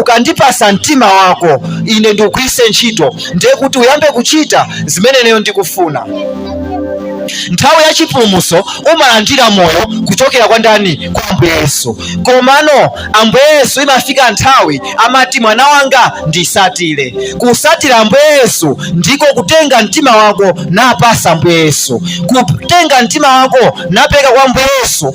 ukandipasa mtima wako ine ndikugwiritse ntchito ndiye kuti uyambe kuchita zimene ineyo ndikufuna nthawi ya chipulumutso umalandira moyo kuchokera kwa ndani kwa ambuye yesu komano ambuye yesu imafika nthawi amati mwana wanga ndisatire kusatira ambuye yesu ndiko kutenga mtima wako napasa ambuye yesu kutenga mtima wako napereka kwa ambuye yesu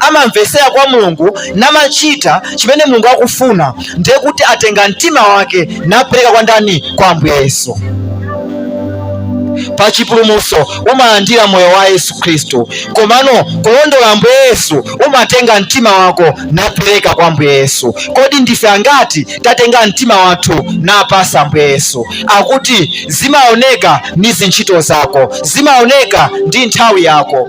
amamvesera kwa Mulungu namachita chimene Mulungu akufuna, ndiye kuti atenga mtima wake napereka kwa ndani? Kwa Ambuye Yesu. Pa chipulumutso umalandira moyo wa Yesu Khristu, komano kulondola Ambuye Yesu umatenga mtima wako napereka kwa Ambuye Yesu. Kodi ndife angati tatenga mtima wathu napasa Ambuye Yesu? Akuti zimaoneka ndi zintchito zako, zimaoneka ndi nthawi yako.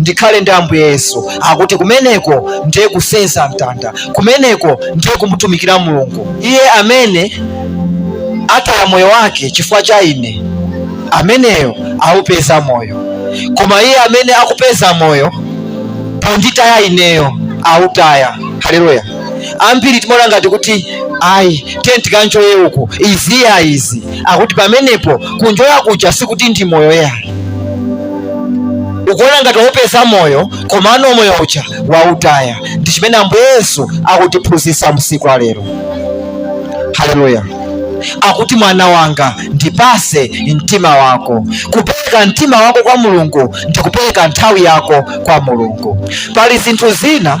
ndikhale ndi ambuye yesu akuti kumeneko ndiye kusenza mtanda kumeneko ndiye kumutumikira mulungu iye amene ataya moyo wake chifukwa cha ine ameneyo aupeza moyo koma iye amene akupeza moyo ponditaya ineyo autaya haleluya ambiri timaona ngati kuti ayi tiye tikanjoye uku izi iya izi akuti pamenepo kunjoya kuja sikuti ndi moyo yayi ukuona ngati waupeza moyo komano moyo uja wautaya ndi chimene ambuye yesu akutiphunzitsa msiku walero haleluya akuti mwana wanga ndipase mtima wako kupereka mtima wako kwa mulungu ndi kupereka nthawi yako kwa mulungu pali zinthu zina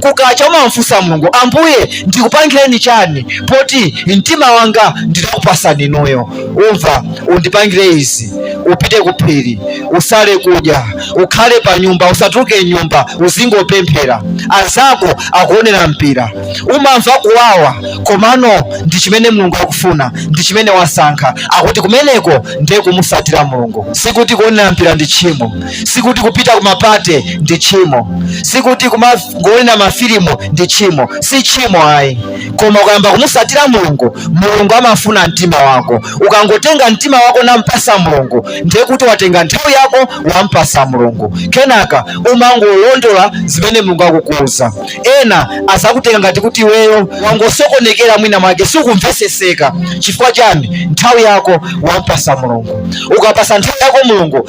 kukacha umamfunsa mulungu ambuye ndikupangireni chani poti mtima wanga ndinakupasani inuyo umva undipangire izi upite kuphiri usale kudya ukhale pa nyumba usatuluke m'nyumba uzingopemphera anzako akuonera mpira umamva kuwawa komano ndi chimene mulungu akufuna ndi chimene wasankha akuti kumeneko ndiye kumusatira mulungu sikuti kuonera mpira ndi tchimo sikuti kupita kumapate ndi tchimo sikuti kumangoona mafilimu ndi tchimo si tchimo ayi koma ukayamba kumusatira mulungu mulungu amafuna mtima wako ukangotenga mtima wako nampasa mulungu ndiye kuti watenga nthawi yako wampasa mulungu kenaka umangolondola zimene mulungu akukuuza ena azakutenga ngati kuti iweyo wangosokonekera mwina mwake sukumveseseka chifukwa chani nthawi yako wampasa mulungu ukapasa nthawi yako mulungu